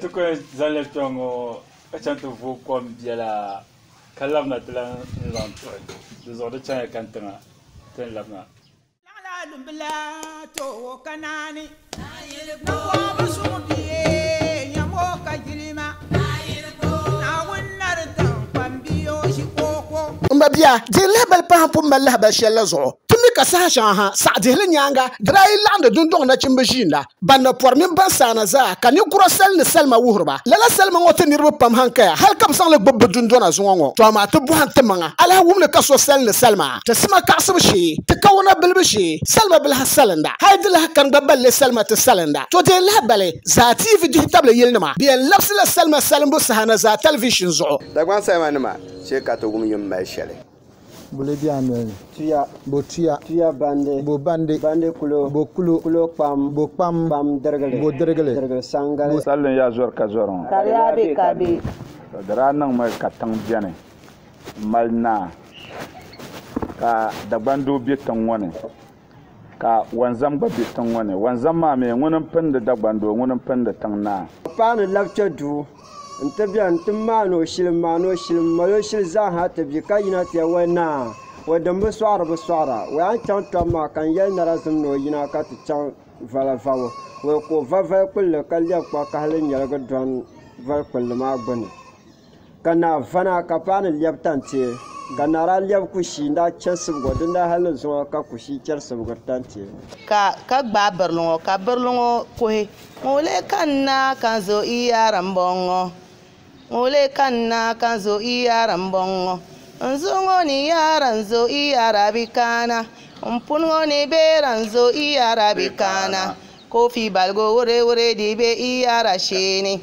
Ti ku yɛn zaŋli kpɛ ŋɔ ka chaŋ ti vo kom biɛla ka labina ti lan zaŋ tuɣi di zuɣu di chaŋya kani tiŋa ti ni labina. Laɣilaɣidumbila toowo ka naani. Naawɔɔbisuŋ bia, nyam o ka jilima. M ba bia, dihiri lahibali pahi n pun mali lahibali shɛli la zuɣu. Ti mi ka saha shɛŋa ha, saɣi dihili nyaaŋa, di daa yi laɣindi dundɔŋ nachimba ʒiinda, ban na pɔri mini ban saana zaa, ka ninkura sali ni salima wuhiriba. Lala salima ŋɔ ti niriba pam hankaya, hal ka bɛ zaŋ li gbibi bɛ dundɔna zuŋɔ ŋɔ. Tɔha maa ti bɔhim timaŋa, alahiwumli ka so sali ni salima? Ti sima kaɣisibu shee, ti kawuna bilibu shee, salima biliha salinda, hal di lahi kani gba balli salima ti salinda, tɔdeei lahabali zaa tiivi jihitabili yilinima bɛ yɛn labisila salima salimbu saha na zaa tɛliviishin zuɣu. Dagbaŋ salima nima shee ka ti wum yim mali shɛli. Bo li be a noli ni? Tuya. Bo tuya. Tuya bandi. Bo bandi. Bandi kulo. Bo kulo. Kulo kpam. Bo kpam. Kpam dirigili. Bo dirigili. Dirigili saŋgali. Salin ya zɔri ka zɔri ŋɔ. Kariya be ka be. Di daa niŋmi ka tiŋ beni. mali naa, ka Dagban doo be tiŋ ŋɔ ni, ka Wanzam gba be tiŋ ŋɔ ni. Wanzam maa mi, ŋuni m-pindi Dagban doo, ŋuni m-pindi tiŋ naa. Ka paanu labi kpe duu nti beni nti maani o shili, m-maani o shili, m-mali o shili zaa ha ti bi ka yina ti yɛli, O naa, o din bi sɔɣiri bi sɔɣira, o yan chaŋ tɔbu maa ka n-yɛli narazim ni o yina ka ti chaŋ vala vabo. Wei ka o va vali kpulli ka lɛbi kpakahili nyaligi dɔni vali kpulli maa gbunni. Ka naa vana ka paɣa ni lɛbi tantie, ka naa daa lɛbi kushii n-daa chɛ sibgo din daa hali ni zuŋɔ ka kushii chɛri sibgiri tantie. Ka ka gbaai birili ŋɔ, ka birili ŋɔ kuhi, Ŋun leei ka n na ka n zo i yaari m-bɔŋɔ, ŋun leei ka n na ka n zo i yaari m-bɔŋɔ, n zuɣu ŋɔ ni yaara n zo i yaari a bi kana, m puni ŋɔ ni beera n zo i yaari a bi kana, koofi baligu wurewuredi be i yaari a shee ni.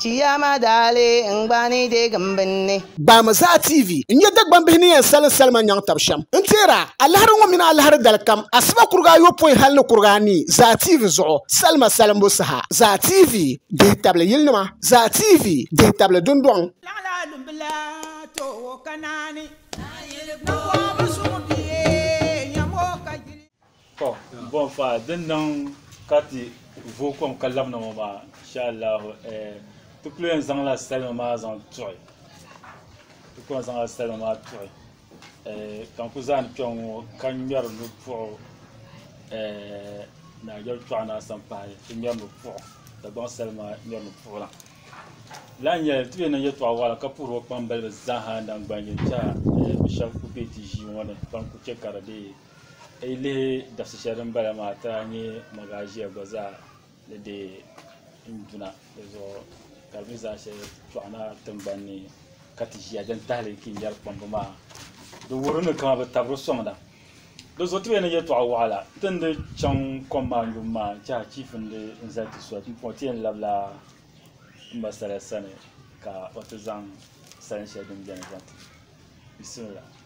Kiyama daali n gba ni deeg m binni. Gbaami Zaa TV n nya Dagbambihi ni yɛn salim salima nyaŋ tab shɛm. N teer a, alahiri ŋɔ mini alahiri dalikam, asiba kuriga ayopɔin hal ni kuriga anii Zaa TV zuɣu salima salimbu saha. Zaa TV dihi tabili yilinima. Zaa TV dihi tabili dundɔŋ. Laɣila dumbila tooi ka naani. Naayili kpɔŋɔ bi suŋ bia nyam o ka yuli. To bon fa din niŋ ka ti vo kom ka labina ŋɔ maa insha Allahu eh, ti kuli yɛn zaŋla salima maa zaŋ tuɣi ti kuli yɛn zaŋla salima maa tuɣi eh, ka n ku zaani kpɛŋ ŋɔ ka ŋmɛri ni puɣu eh, naajɛri tɔɣu na san pahi ti ŋmɛri ni puɣu Dagbaŋ salima ŋmɛri ni puɣu na lahi nyɛli ti bee niŋ yɛltɔɣa waɣala ka puhiri o kpambalibi zaaha naŋgbani yɛn tɛha eh, bi shɛba ku be ti ʒii ŋɔ ni ban ku chɛ ka di dee a yi lihi dabisi shɛli din bala maa ti lahi nyɛ magaʒia gba zaa ni deei n-duna di zuɣu ka di mi zaa shɛli tɔɣi na tiŋgbani ni ka ti ʒia din tahili kinyɛri kpamba maa di wuhiri ni kaman bɛ tabiri sɔŋda di zuɣu ti beni ni yɛltɔɣa waɣila ti ni dii chaŋ kom maa yubu maa n-che achiifu n-dii zali ti soli pumpɔŋɔ ti yɛn labila m ma Salia sani ka o ti zaŋ salinshɛli din beni zaŋ ti o bisimila.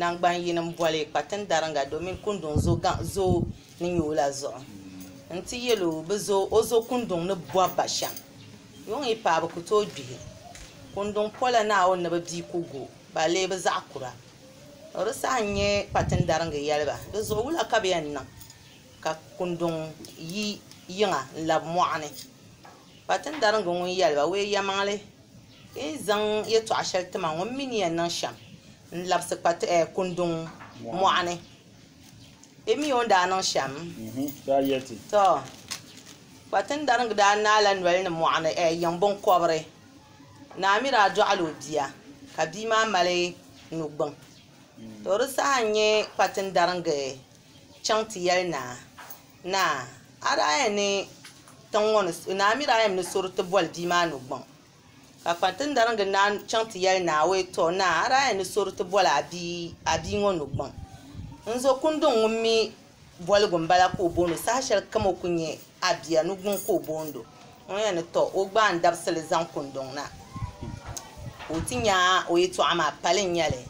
Naŋgban yini m boli kpatin dariŋga domin kunduŋ zo gaŋ zo ni nyɛ o la zuɣu n ti yel o bi zo o zo kunduŋ ni bɔb ba shem. Yuŋ yi paai bi ku tooi gbihi kunduŋ pola Naawuni ni bi dii ku go ba lee bi zaɣ kura. O di saha n nyɛ kpatin dariŋga yeli ba di zuɣu wula ka bɛ yɛn niŋ ka kunduŋ yi yiŋa n labi mɔɣu ni. Kpatin dariŋga ŋun yeli ba, Wee yɛmaŋli, yi ni zaŋ yetɔɣa sheli ti ma ŋɔ m mi ni yɛn niŋ shem n labisi kpa tihi kunduŋ mɔɣuni bɛ mi o ni daa niŋ shɛm tɔ kpatindariŋga daa naai la noli ni mɔɣuni yiŋ biŋkɔbiri naa mi daa dɔɣila o bia ka bia maa mali nugbuŋ tɔ di saha n nya kpatindariŋga chaŋ ti yɛli naa naa a daa yɛn ni tiŋ ŋɔ ni naa mi daa yɛn ni suri ti boli bia maa nugbuŋ Ka kpantindariŋga naan chaŋ ti yɛli naa, O yi tɔɔ naa, a daa yɛn ni sori ti boli a bia ŋɔ nu gbaŋ. N zo kunduŋ ŋun mi boligu m-bala ka o boond o, saha shɛli kam o ku nyɛ a bia, nu gbuŋ ka o boond o. Ŋun yɛn ni tɔɔ o gba a ni dabisi li zaŋ kunduŋ na, ka o ti nya o yɛtɔɣa maa, pali n-nyɛ li.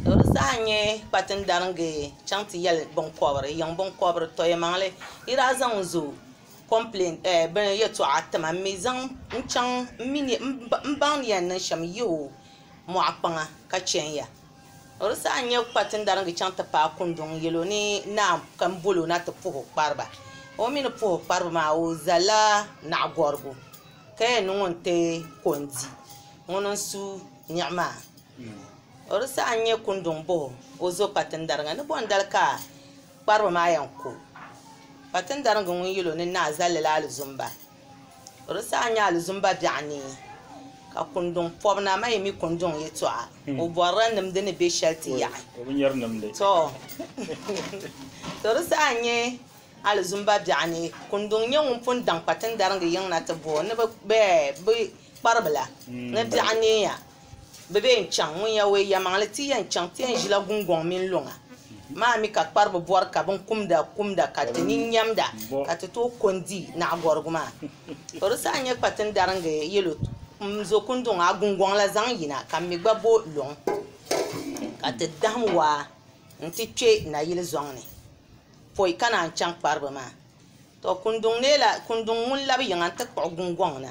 Tɔ! Di saha n-nyɛ kpatindariŋga chaŋ ti yɛli biŋkɔbiri, yiŋ biŋkɔbiri, Tɔyɛmaŋli, yi daa zaŋ n zo. complain eh bini yɛltɔɣa tima m mi zaŋ n chaŋ m mi ni m baŋ ni yɛn niŋ shɛm n yihi o mɔɣu kpaŋa ka chɛn ya o di saha n-nyɛ kparitindaringi chaŋ ti paai Kundɔŋ n-yɛl o ni naa ka m bol o na ti puhi o kpariba o mi ni puhi o kpariba maa o zalila naɣigɔrigu ka yɛn niŋ o n-ti ko n-di ŋuni n-su niɣi maa o di saha n-nyɛ Kundɔŋ bɔh o o zo kparitindaringa ni bɔndali ka Kparibu maa yɛn ku kpatindarigi ŋun yil o ni naai zalli la alizumba. O di saha nya alizumba biɛɣu ni ka kunduŋ pɔbi na maa yi mi kunduŋ yɛtɔɣa, o bɔrila nimdi ni be shɛli ti yaɣi. Tɔ! To di saha n-nyɛ alizumba biɛɣu ni kunduŋ nyɛ ŋun pun daŋ kpatindarigi yiŋ na ti bo o ni bɛ kparibu la ni biɛɣu neei ya. Bɛ be yɛn chaŋ ŋun ya ɔya maŋli ti yɛn chaŋ ti yɛn ʒila gungɔŋ mini luŋa maa mi ka kparibu bɔri ka bin kumda kumda ka ti nini nyamda ka ti tooi ko n-di naɣigɔrigu maa. O di saha n-nyɛ kpati n-daringi yɛlo m-zo kunduŋ a gungɔŋ la zaŋ yina ka m mi gba bo luŋ ka ti dahim waa n-ti kpe nayili zɔŋ ni pɔi ka naan chaŋ kparibu maa. Tɔ kunduŋ neei la kunduŋ ŋun labi yiŋa n-ti kpuɣi gungɔŋ na.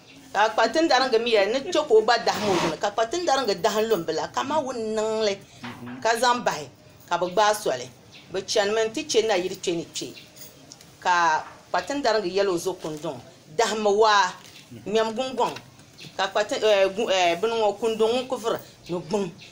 Ka kpatindariŋga mi yɛli, Ni chɛ ka o gba dahim o zuɣu ni. Ka kpatindariŋga dahim lumbila kaman wun niŋ li ka zaŋ bahi, ka bɛ gbaai soli. Bɛ chanimi nti chɛ nayili kpe ni kpe. Ka kpatindariŋga yɛl o zo kunduŋ, Dahimmi waa, ŋmɛm guŋgɔŋ, ka bini ŋɔ, kunduŋ ŋun ku vuri ni guŋ.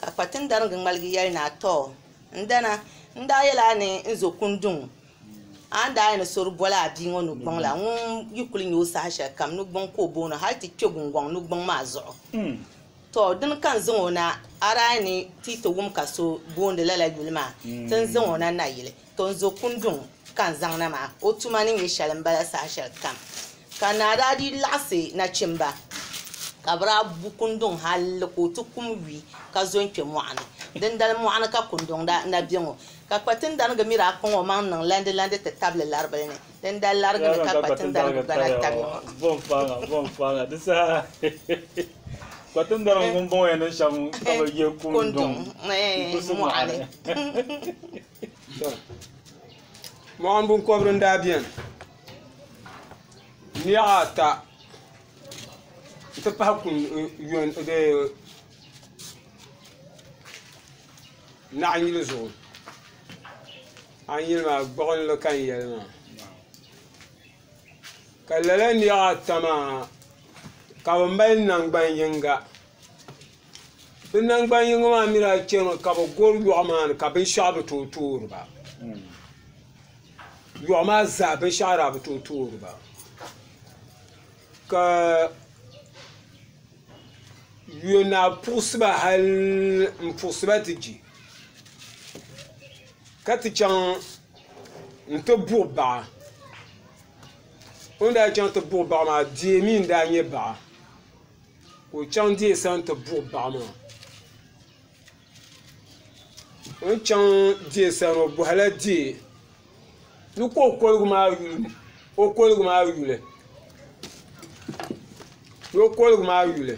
Ka kpatindariŋgi ŋmaligi yɛli naa, Tɔ! N dana, n daa yɛla a ni n zo kunduŋ a ni daa yɛn sori boli a bia ŋɔ nugbuŋ la, ŋun yi kuli nya o saha shɛli kam nugbuŋ ka o booni hal ti kpe guŋgɔŋ nugbuŋ maa zuɣu. Tɔ! Dini ka n zaŋ o na, a daa ni ti yi ti wum ka so boondi lala yuli maa, ti n zaŋ o na nayili. Tonzo Kundung ka n zaŋ na maa, o tuma ni nyɛ shɛli m-bala saha shɛli kam. Ka naa daa dii laɣisi nachimba ka bɛ daa bu Kundung hali ka o ti kum yuui ka zo n-kpe mɔɣu ni. Dindali mɔɣu ni ka Kundung daa na be ŋɔ, ka kpatindariga mi daa kpaŋ o maŋ niŋ landilandi ti tabili laribili ni. Dindali lariga ni ka kpatindariga gba na tabi ya ŋɔ. Bom paŋa, bom paŋa, di saha kpatindariga ŋun bɔŋɔ ya niŋ shɛm ka bɛ ye Kundung mɔɣu ni. Mɔɣini binkɔbiri n daa bɛni niɣi ata n ti pahi naɣi yili zuɣu a ni yuli maa gbuɣinli ka n yɛli maa ka lala niɣi ata maa ka bi mali namgbani yiŋga. Bɛ naŋgban yiŋ maa mi daa chanimi ka bɛ gɔri yɔɣu maa ni ka binshɛɣu bi tooi toori ba. Yɔɣu maa zaa binshɛɣu daa bi tooi toori ba. Ka yɔnaa puɣisi ba hal m-puɣisi ba ti je ka ti chaŋ nti buɣi baɣa. O ni daa chaŋ ti buɣi baɣa maa deei mi n-daa nyɛ baɣa. ka o chaŋ deei sani ti buɣi baɣa maa o ni chaŋ deei sani o bɔhila deei ni ka o koligu maa yuli ni o koligu maa yuli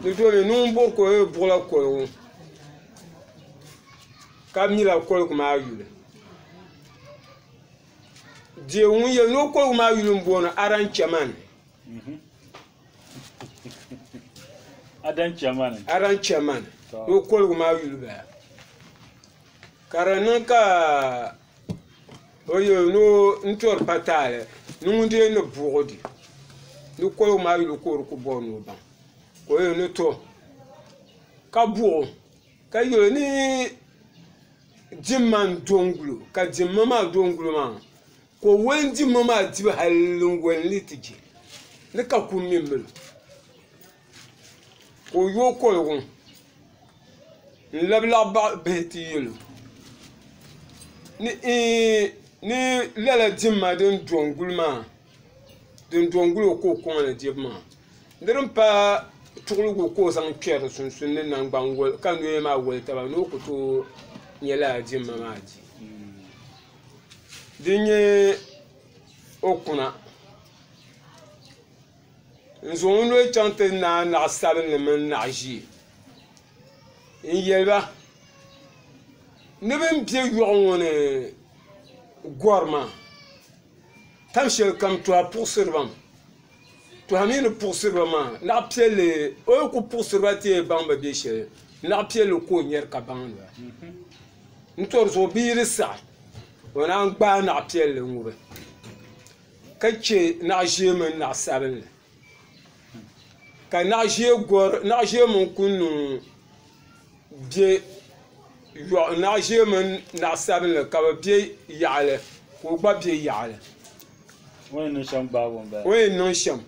di domi ni ŋun buɣi ka o yuli buɣila koligu ka mila koligu maa yuli deei ŋun yuli ni o koligu maa yuli m-bɔŋɔ aranchɛman Adan Chairman Adan Chairman o koligu maa yuli baya ka di niŋ ka o yɛ ni o n tori pa taali ni ŋun dee ni buɣi di ni koligu maa yuli ka o di ku bɔri ni o baŋ ka o yɛli ni to ka buɣi o ka yɛ o ni dimma n do n guli o ka dimma maa do n guli o maa Ka o wali n-di ma maa dibu hal n wali ni ti je ni ka kum mini mil o. Ka o yooi koligu n-labi laɣ baɣ bihi ti yɛl o ni, Iin! Ni lala dimma din do n-guli maa, din do n-guli o ka o kɔŋ ni dibu maa, di din paai tuɣiligu ka o zaŋ kpɛri di sunsuuni ni naŋgban wal, ka noya maa wali taba ni o ku tooi nya lala dimma maa di. Din nyɛ o kuna n zaŋ o noli chaŋ ti naai naɣa sabinli mini naɣa ʒiɛ n yɛliba ni bi ni bɛ yoɣu ŋo ni gori maa tam shɛli kam tɔha puɣusiri baŋ To a mi ni puɣisiriba maa, naɣ piɛlli, o yi ku puɣisiriba ti yɛn baŋ ba be shɛli, naɣ piɛlli ka o nyari ka baŋdi ba. N tɔri zuɣu bi yi di saɣi, o naan gbaai naɣ piɛlli ŋubi ka chɛ naɣ ʒee mini naɣ sabinli. Ka naɣ ʒee gɔri, naɣ ʒee mini kuŋ niŋ naɣ' ʒee mini naɣ' sabilinli ka bɛ be yaɣili ka o gba be yaɣili o ni yɛn niŋ shɛm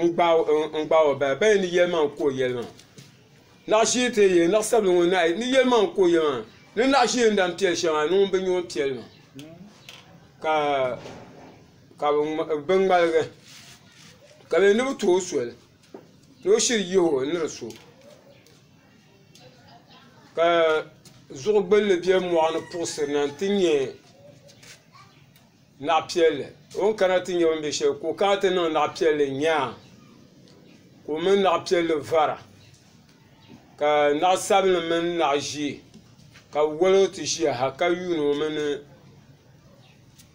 n-gbaai o m-bala bɛ ni yɛli maa ka o yɛli maa naɣ' ʒee ti yɛli naɣ' sabilinli ŋɔ naai ni yɛli maa ka o yɛli maa ni naɣ' ʒee n-lahi piɛli shɛm maa ni ŋun bi nya o ni piɛli maa ka bɛ ŋmaligi ka bɛ yɛli ni bɛ ti o soli ni o shiri yihi o ni di so ka zuɣu gbulli bɛ mɔɣuni puɣisiri na n-ti nyɛ naɣ' piɛlli o ni kana ti nyɛ bɛ ni be shɛli ka o kana ti niŋ naɣ' piɛlli nyaa ka o mini naɣ' piɛlli vara ka naɣ' sabinli mini naɣ' ʒee ka bɛ wali o ti ʒiya ha ka yuuni o mi ni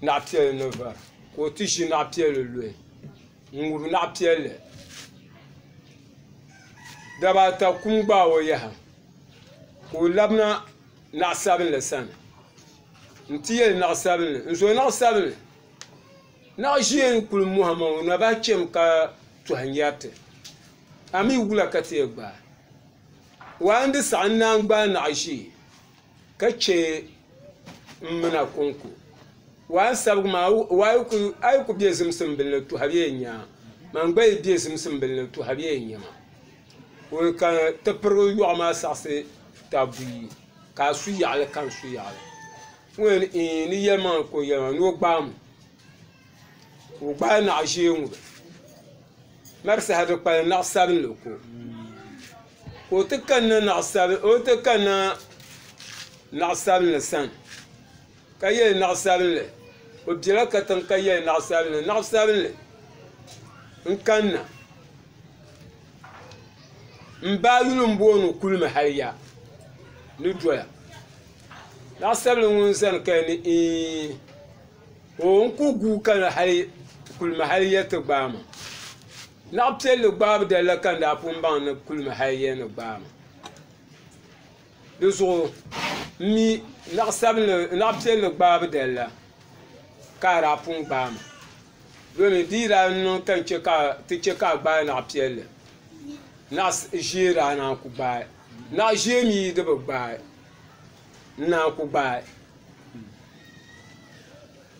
naɣ' piɛlli ni vara ka o ti ʒi naɣ' piɛlli luhi N ŋubi naɣ piɛlli. Daba ata kum gbaai o yaha ka o labina naɣ sabinli sani. N ti yɛli naɣ sabinli, n zo naɣ sabinli. Naɣ ʒiɛ n-kul mɔhim o naba cham ka tɔhi nyɛriti. A mi wula ka ti yɛn gbaai? Waai n di saɣi n naan gbaai naɣ ʒiɛ. ka chɛ n mina kɔŋko. Waa n sabigi maa, waa a yi ku be zimsimbili ni tuhi bee n-nya a, man gba yi be zimsimbili ni tuhi bee n-nya ma. Ŋuni ka ti pirigi yɔɣu maa saɣisi ta buyi, ka a su yaɣili ka n su yaɣili. Ŋuni n-yi ni yɛlimaŋli ka o yɛlimaŋli ni o gbaai m? ka o gbaai naɣ ʒiɛ ŋɔ mari saha di kpalim naɣ sabinli ko ka o ti kanna naɣ sabinli sani ka yɛ li naɣ sabinli o biɛla katiŋ ka yɛ li naɣ sabinli naɣ sabinli n kanna n baa yuli n booni o kulimi hali yaha ni doya naɣ sabinli ŋɔ n zani ka yɛli ni ɛɛ O n ku guui kana hali kulimi hali ya ti gbaai ma. Naɣ piɛlli gbaabu dalla ka n daa pun baŋ ni kulimi hali ya ni gbaai ma. Di zuɣu m mi naɣ sabinli naɣ piɛlli gbaabu dalla ka a daa pun gbaai ma domi di yi daa niŋ ka n chɛ ka ti chɛ ka a gbaai naɣ piɛlli naɣ ʒee daa naan ku gbaai. Naɣ ʒee mi yi di bi gbaai. n naan ku gbaai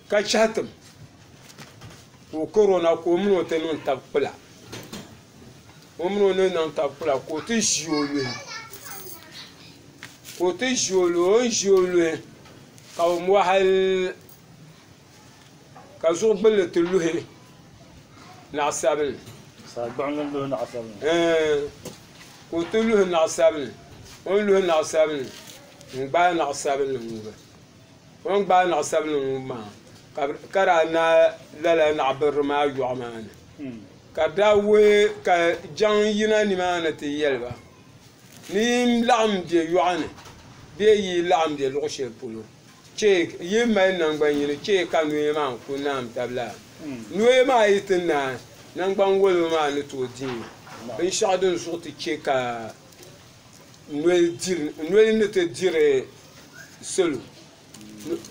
ka chɛhi tim ka o kari o na ka o mini o ti niŋ tabi kpula o mini o ni niŋ tabi kpula ka o ti ʒi o luhi ka o ti ʒi o luhi o ni ʒi o luhi ka bi mɔɣili Ka zuɣu gbulli ti luhi naɣisabinli. Saa gbuɣinli luhi naɣisabinli. Ɛɛn, ka o ti luhi naɣisabinli. O ni luhi naɣisabinli, n-gbaai naɣisabinli ŋubi. O ni gbaai naɣisabinli ŋubi maa, ka bɛ, ka daa naai lala naɣibirili maa yɔɣu maa ni. Ka bɛ daa wuhi, ka jaŋ yina nimaani ti yɛli ba, Ni yi laɣim be yɔɣu ni bee yi laɣim be luɣ shɛli polo, Chɛ yi mali naŋgban yini chɛ ka noya maa n-ku naam tab la. Noya maa yi ti naai, naŋgban woliba maa ni tooi dihi binshɛɣu din zuɣu ti chɛ ka noli ni ti diri salo.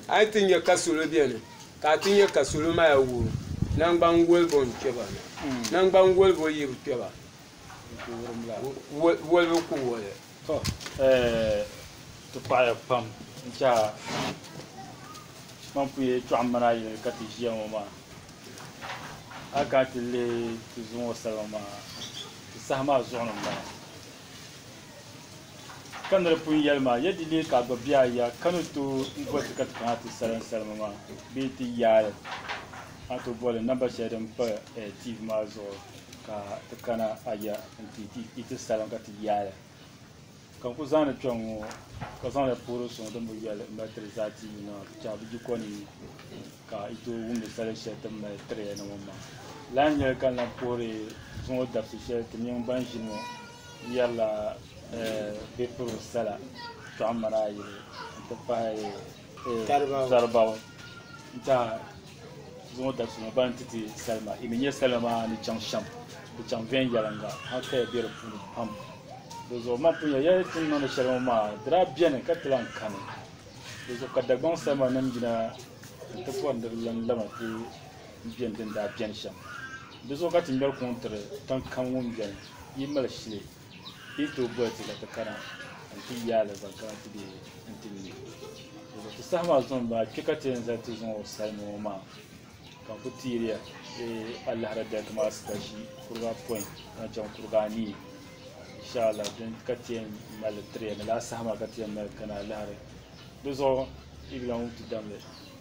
A yi ti nya ka salo beni, ka a ti nya ka salo maya wuhi naŋgban wolibo n-kpe ba na. Naŋgban wolibo yi bi kpe ba, wolibo ku woli. Tɔ eeh ti paɣiya pam n-chɛ a kpaŋpuya yɛtɔɣ mini a yɛli ka ti ʒiya ŋɔ maa. A kana ti lihi ti zuɣu ŋɔ salima maa, ti saha maa zuɣu ni m-bala. Ka ni di pun yɛli ma, ya di leei ka a gba be a ya ka ni tooi boli ti ka ti kana ti salim salima maa bee ti yaai li, a ni tooi boli li namba shɛli din pa tiivi maa zuɣu. ka ti kana aya nti ti yi ti salim ka ti yaaya ka n ku zaŋdi kpɛŋ ŋɔ ka zaŋdi puhiri suŋ din bi yɛli m mali tiri zaa ti yi maa ti chahi bi ji kɔni ni ka yi tooi wumdi sali shɛli ti mali tiri ya na ŋɔ maa lahi nyɛli ka n lahi puhiri zuŋɔ dabisi shɛli ti mini ban ʒini ŋɔ yɛrila bɛ piri sala tɔɣimana ayi n ti pahi Saribao n-tiɛha zaŋ o dabisi ŋɔ ban ti ti salima. Yi mi nya salima maa ni chaŋ shɛm, di chaŋ viɛnyɛliŋga hal kaya be di puuni pam. Dizuɣu man pun nya ya ni ti ni niŋdi shɛli ŋɔ maa, di daa beni ka ti lan kani. Dizuɣu ka Dagbaŋ salimanim yina nti bɔri ni di lan labina ti beni din daa beni shɛm. Dizuɣu ka ti ŋmɛri kuŋ tiri tiŋkam ŋun beni, yi mali shili. Di ni tooi boli ti ka ti kana n-ti yaai alibarika ti be n-ti mi o. Ti saha maa zuŋ maa, kpe ka ti yɛn zali ti zuŋɔ salima ŋɔ maa ka n ku teeri ya eh, alahira dali ti maa sikashi kuriga pɔin zaŋ chaŋ kuriga anii. Inshaallah din ka ti yɛn mali tiri ya ni lala saha maa ka ti yɛn mali kana alahira. Di zuɣu Ibila ŋun ti dam li.